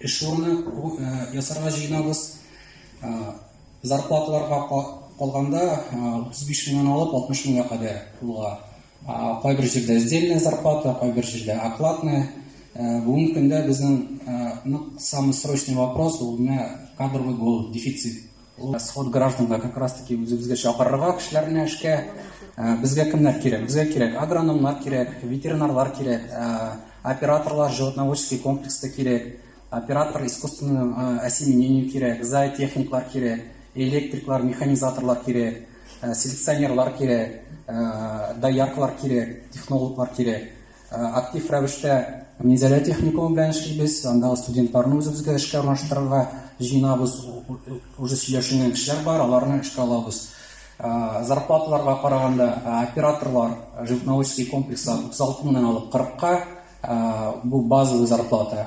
Эшурны ясарга җыенабыз. Зарплаталарга калганда 35 меңнән алып 60 меңгә кадәр булга. Кайбер җирдә сдельная зарплата, кайбер җирдә окладная. Бүгенге көндә безнең нык самый срочный вопрос ул менә кадровый голод, дефицит. Ул сход гражданга как раз таки үзебезгә чакырырга кешеләрне эшкә. Э, безгә кемнәр кирәк? Безгә кирәк агрономнар кирәк, ветеринарлар кирәк, э, операторлар животноводческий комплекста кирәк, оператор искусственного э, осеменения кирәк, зоотехниклар кирәк, электриклар, механизаторлар кирәк, селекционерлар кирәк, дояркалар кирәк, технологлар кирәк. Актив рәвештә Минзәлә техникумы белән эшлибез. Андагы студентларны үзебезгә эшкә урнаштырырга җыенабыз. Уже сөйләшенгән кешеләр бар, аларны эшкә алабыз. Зарплаталарга караганда, операторлар животноводческий комплекста 36 меңнән алып 40-ка, бу базовый зарплата.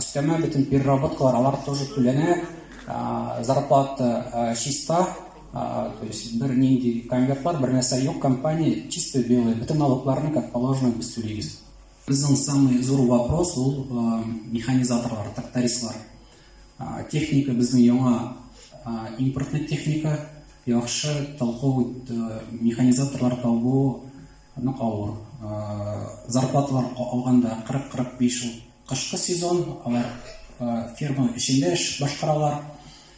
Өстәмә бөтен переработкалар, алар тоже түләнә. Зарплата чиста, То есть бер нинди конвертлар, бер нәрсә юк, компания чисто белый, бөтен налогларны как положено без түлибез. Безнең самый зур вопрос ул э, механизаторлар, трактористлар. Э, техника безнең яңа э, импортный техника, яхшы толковый э, механизаторлар табу нык авыр. Э, зарплаталар алганда 40-45 ул кышкы сезон, алар э, ферма эчендә эш башкаралар.